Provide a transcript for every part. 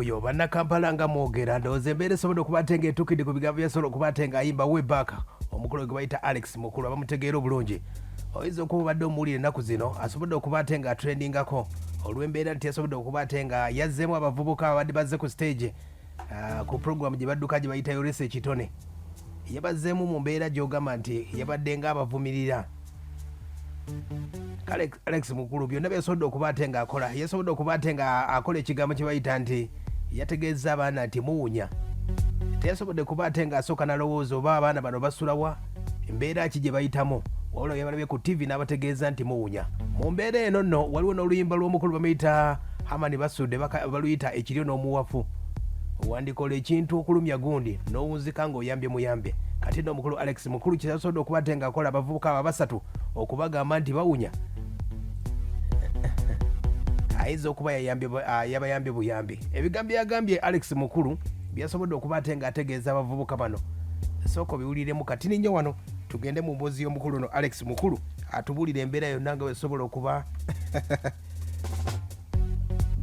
oyo bannakampala nga mwogera ndowooza embeera esobodde okuba ate ngaetukidde ku bigambo byasobola okuba ate ngaayimba webak omukulu gwe bayita alex mukulu abamutegeera obulungi oyinza okuba obadde omuwulira ennaku zino asobodde okuba ate nga atrendingako olw'embeera nti yasobodde okuba ate nga yazzeemu abavubuka ababadde bazze ku stage ah, ku programu gye badduka gye bayita yoresa ekitone yabazzeemu mu mbeera gy'ogamba nti yabadde ng'abavumirira kale alex mukulu byonna byesobodde okuba ate nga akola yesobodde okuba ate nga akola ekigambo kye bayita nti yategeeza abaana nti muwunya teyasobodde kuba ate nga asooka nalowooza oba abaana bano basulawa embeera ki gye bayitamu wabula yabalabye ku ttivi n'abategeeza nti muwunya mu mbeera eno nno waliwo n'oluyimba lw'omukulu bamuyita hamani basudde baka- baluyita ekiryo n'omuwafu wandikola ekintu okulumya gundi n'owunzika nga oyambye muyambe kati no mukulu alex mukulu kyasoda okuba ate ngaakola abavubuka abo abasatu okubagamba nti bawunya ayinza okuba ah, yabayambye buyambi ebigambo byagambye alex mukulu byasobodde okuba ate ngaategeeza abavubuka bano sooka obiwuliremu kati ninyo wano tugende mu mboozi y'omukulu no alex mukulu atubuulire embeera yonna nga wesobola okuba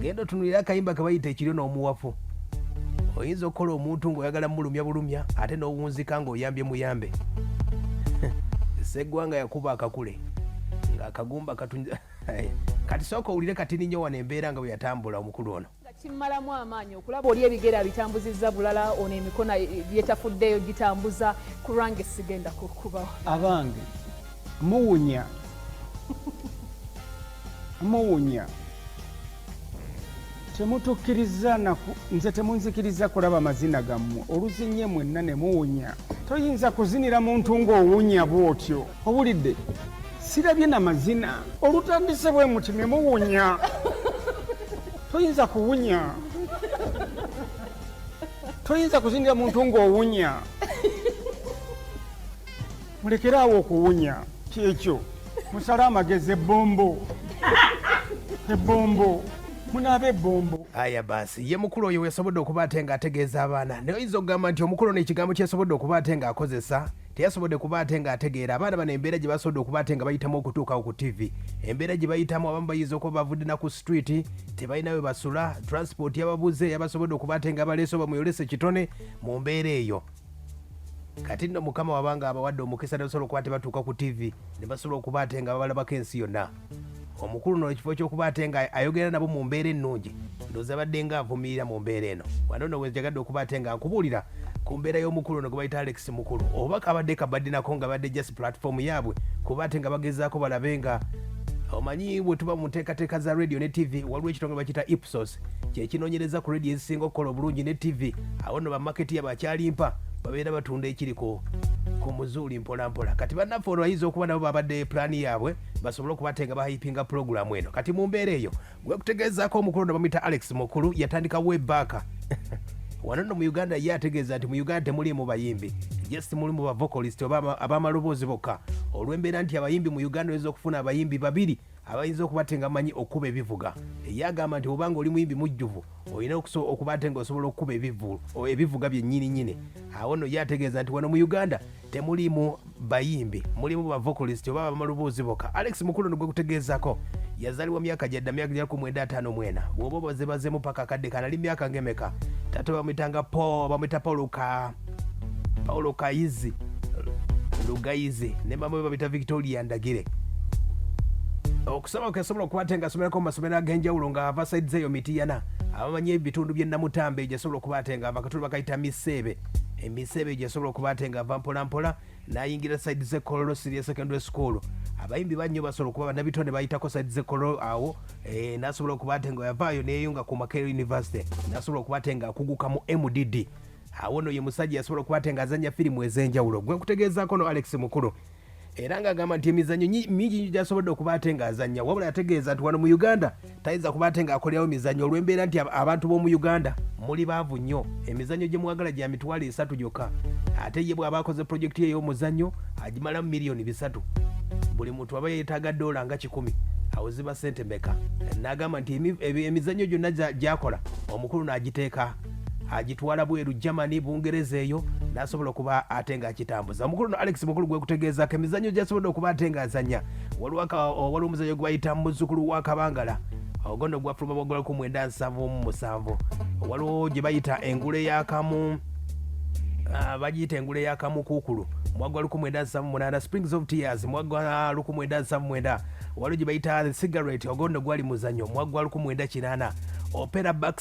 genda otunulira akayimba kebayita ekiryo n'omuwafu oyinza okukola omuntu ng'oyagala mulumya bulumya ate n'owunzika ng'oyambye muyambe seggwanga yakuba akakule ng'akagumba katunza kati sooka owulire katini nnyo wano embeera nga bwe yatambula omukulu ono nga kimmalamu amaanyi okulaba oli ebigere abitambuzizza bulala ono emikono yetafuddeyo gitambuza ku lwange sigenda kukubawo abange muwunya muwunya temutukiriza naku nze temunzikiriza kulaba mazina gammwe oluzinye mwenna ne muwunya toyinza kuzinira muntu ng'owunya bw'otyo Owulidde? Sirabye na mazina. Olutandise bwe muti ne muwunya. Toyinza kuwunya. Toyinza kuzindira muntu ng'owunya. Mulekere awo okuwunya. Kyekyo. Musale amagezi ebbombo. Ebbombo. munaaba ebbombo aya basi ye mukulu oyo wesobodde okuba ate nga ategeeza abaana naye oyinza okugamba nti omukulu ono ekigambo kyesobodde okuba ate nga akozesa teyasobodde kuba ate nga ategeera abaana bano embeera gye basobodde okuba ate nga bayitamu okutuukawo ku ttivi embeera gye bayitamu abamu bayinza okuba bavudde na ku street tebalina we basula transport yababuze yabasobodde okuba ate nga baleese oba muyolese kitone mu mbeera eyo kati nno mukama wabanga abawadde omukisa nebasobola okuba tebatuuka ku ttivi ne basobola okuba ate nga babalabako ensi yonna omukulu no ekifo kyokuba ate nga ayogera nabo mu mbeera ennungi ndoza badde nga avumirira mu mbeera eno wano no wejagadde okuba ate nga nkubuulira ku mbeera y'omukulu no gwebayita alex mukulu oba kabadde kabadinako nga badde just platform yaabwe kuba ate nga bagezaako balabe nga omanyi bwe tuba mu nteekateeka za radio ne tv waliwo ekitongole bakiyita ipsos kyekinonyereza ku radio ezisinga okukola obulungi ne tv awo no bamaketi yabo akyalimpa babeera batunda ekiri ku muzuuli mpolampola kati bannaffe olwo bayinza okuba nabo babadde pulaani yaabwe basobole okubatenga bahayipinga pulogulaamu eno kati mu mbeera eyo gwekutegeezaako omukulu ono bamuyita alex mukulu yatandika webaaka wano no mu uganda ye ategeeza nti mu uganda temuliimu bayimbi just mulimu bavocolist oba abamaloboozi bokka olw'embeera nti abayimbi mu uganda oyinza okufuna abayimbi babiri abayinza okuba te nga manyi okukuba ebivuga eye agamba nti obanga oli muyimbi mujjuvu olina okuba te nga osobola okukuba ebivuga byennyini nyini awo no ye ategeeza nti wano mu uganda temulimu bayimbi mulimu bavokalist oba bamalubuuzi boka alex mukulu nigwe kutegeezako yazalibwa myaka gyadda myaka gya kumwenda ataano mwena bwoba obazebazemu paka akadde kanali myaka ngemeka tata bamwitanga po bamwita paulo ka paulo kayizi lugayizi ne mama we babita victoria ndagire okusoma kwesobola okuba ate ngasomerako mu masomero ag'enjawulo nga ava saidi zeeyo mitiyana abamanyi ebitundu by'e namutambe gyesobola okuba ate nga abakatuli bakayita miseebe emiseebe gyesobola okuba ate nga ava mpolampola nayingira side ze kololo siria secondary school abayimbi bannyo basobola okuba banabitonde bayitako side ze kololo awo eh, nasobola okuba ate nga yavaayo neyeyunga ku makerel university nasobola okuba ate nga akuguka mu mdd awo no ye musajja yasobola okuba ate nga azanya firimu ezenjawulo gwe nkutegeezako no alex mukulu era ng'agamba nti emizannyo mingi nyo gyasobodde okuba ate ng'azannya wabula yategeeza nti wano mu uganda tayinza kuba ate ng'akolerawo emizannyo olw'embeera nti abantu b'omu uganda muli baavu nnyo emizannyo gye mwagala gya mitwalo esatu gyokka ate ye bw'aba akoze pulojekiti ye ey'omuzannyo agimalamu miliyoni bisatu buli muntu aba yeetaaga doola nga kikumi awo ziba ssente meka n'agamba nti emizannyo gyonna gyakola omukulu n'agiteeka agitwala bweru germany bungereza eyo nasobola okuba ate nga akitambuza omukulu no alex mukulu gwekutegeezako emizanyo gyasobodde okuba ate nga azanya waliwo omuzanyo gwebayita muzukulu wa kabangala ogono gwafuluma bwagula ku mwenda nsanvu mu musanvu waliwo gye bayita engula eyakamu ah, bagiyita engula eyakamu kuukulu mwagwa lukumu enda nsamu munana springs of tears mwagwa lukumu enda nsamu mwenda waliwo gye bayita cigarette ogondo gwali muzanyo mwagwa lukumu enda kinana opera back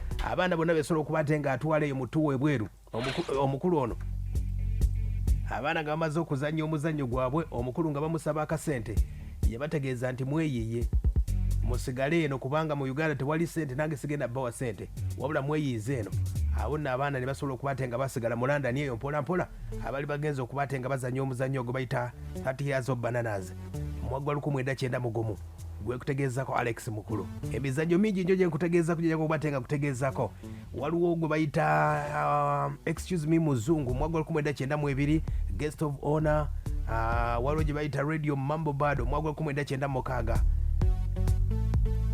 abaana bonna besobola okuba ate nga atwala eyo mutu webweru omukulu ono abaana nga bamaze okuzannya omuzannyo gwabwe omukulu nga bamusaba akasente yabategeeza nti mweyiye musigale eno kubanga mu uganda tewali sente nange sigenda bawa sente wabula mweyiize eno awo nno abaana ne basobola okuba ate nga basigala mu london eyo mpolampola abali bagenza okuba ate nga bazannya omuzannyo ogwe bayita 30 years of bananas mwaggwa 19 mugumu gwe kutegeezako alex mukulu emizanyo mingi njo gyenkutegeezako gyejakubatte nga kutegeezako waliwo gwe bayita um, excuse me muzungu mwaka lukumi eda kyenda mu ebiri guest of honor uh, waliwo gye bayita radio mambo bad omwaka lukumi eda kyenda mukaaga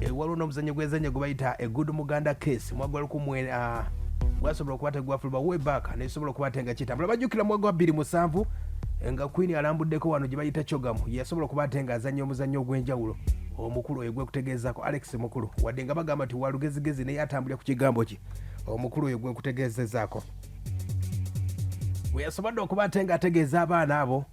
eh, waliwo n'omuzanyo gwezanyo gwe bayita a good muganda case mwaka lukumi uh, gwasobola okuba tegwafuluma way back nesobola okuba te nga kitambula bajjukira mwaka wa 27 nga queen alambuddeko wano gye bayita cogamu yasobola okuba ate ng'azannya omuzannyo ogw'enjawulo omukulu oyo gwekutegeezaako alex mukulu wadde nga bagamba nti walugezigezi naye atambulira ku kigambo kye omukulu oyo gwekutegeezezaako weyasobodde okuba ate ng'ategeeza abaana abo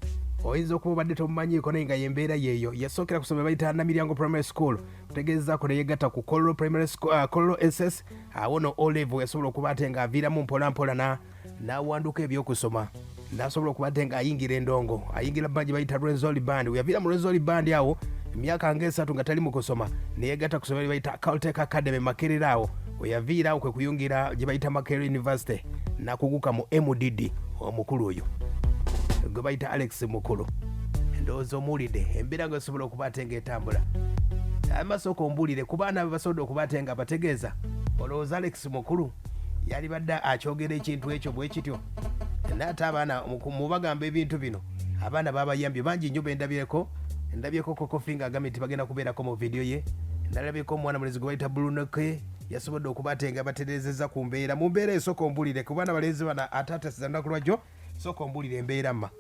oyinza okuba obadde tomumanyiiko naye nga yembeera yeeyo yasookera ku somero bayita namiryango primary school kutegeezaako neyegatta ku collo primary school, uh, collo ss awo no olevo yasobola okuba ate ng'aviiramu mpolampola na n'awanduka ebyokusoma nasobola okubadde nga ayingira endongo ayingira bandi bayita rwenzoli bandi weyaviira mu rwenzoli bandi awo emyaka ngaesatu nga tali mu kusoma neyegata kusoma lyebayita caltec academy makerera awo weyaviira awo kwekuyungira gyebayita makerera university nakuguka mu mdd omukulu oyo gwe bayita alex mukulu ndowooza omuwulidde embeera nga esobola okuba ate ngaetambula amasooka ombuulire ku baana be basobodde okuba ate nga bategeeza olowooza alex mukulu yalibadde akyogera ekintu ekyo bwe kityo naate abaana mubagamba ebintu bino abaana babayambye bangi nnyo bendabyeko ndabyeko kokofi nga agambye nti bagenda kubeerako mu vidiyo ye nalabyeko omwana mulezi gwe bayita bulunoke yasobodde okuba ate nga baterezeza ku mbeera mu mbeera esooka ombulire ku baana balenzi bana ate atasiza lunaku lwajjo sooka ombulire embeera ma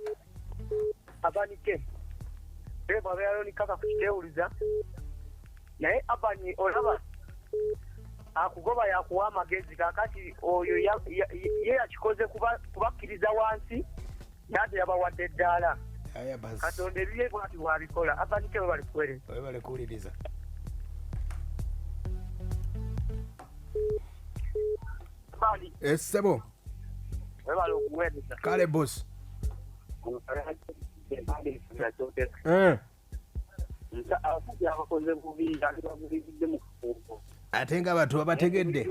abanike bebo abeerayo nikaka kukitewuliza naye abani olaba akugoba yakuwa amagezi kakati oyo ye yakikoze kubakkiriza wansi naate yabawadde eddaala katonda ebiye bwati wabikola abanike bwe balikuwereza esebo eh, kale bosi eh. ate nga abantu babategedde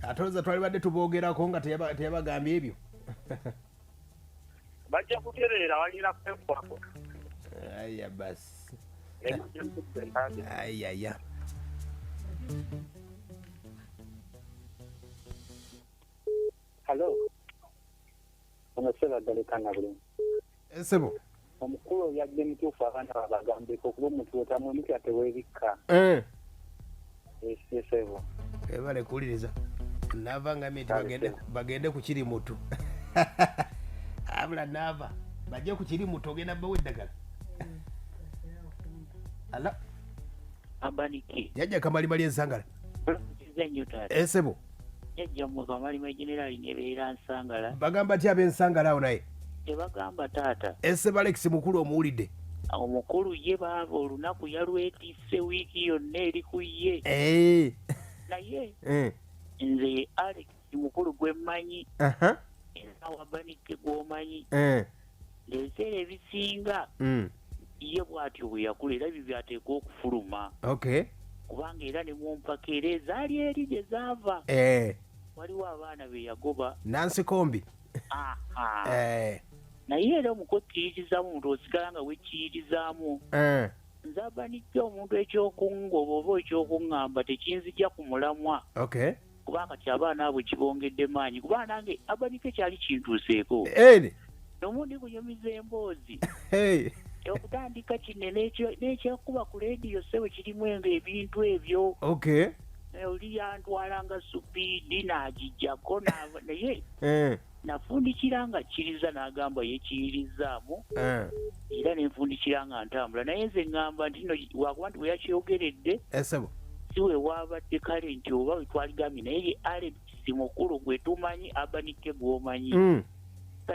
ate oza twalibadde tubogerako nga teyabagambye ebyo bajja kutereera balina kwekwako aya basi ayaya halo ono sebagalekana bulungi esebo eh, omukulu oyadde mutuufu abaana babagambeko okuba omuntu wotamu emikira tewebikka eh. esebo ebale eh, kuwuliriza nava nga miti bagende ku kiri mutu abula nava bajje ku kiri mutu ogenda bawa eddagala ala abaniki yajja kamalimali ensangala esebo jajja muntu amalimu ejenerali nebeera nsangala bagamba ti abensangala awo naye tebagamba taata esebalekisi mukulu omuwulidde omukulu ye baaba olunaku yalwetise wiiki yonna eri ku ye eh. naye eh. nze alex mukulu gwemmanyi enawabanike gwomanyi eh. ebiseera ebisinga mm. ye bwatyo bwe yakula era ebyo byateekwa okufuluma kubanga era ne mu mpaka era ezaali eri gye zaava eh. waliwo abaana be yagoba nansikombi eh. naye era omukukkiririzaamu omuntu osigala nga wekkiririzaamu eh. nzabanijja omuntu ekyokungoba oba ekyokuŋŋamba tekinzija ku mulamwa kuba kati abaana abo kibongedde maanyi kuba nange abanike kyali kintuuseeko nomundi kunyumiza emboozi okutandika kino n'ekyakuba ku leediyo sebo kirimu enga ebintu ebyo oli yantwala nga supiidi n'agijjako naye eh. nafundikira nga kkiriza n'agamba ye kiyirizzaamu eh. era ne nfundikira nga ntambula naye nze ŋŋamba nti no wakuba nti bwe yakyogeredde eh, si we waabadde kale nti oba we twaligambye naye ye alebisi mukulu gwe tumanyi abanike gw'omanyi mm.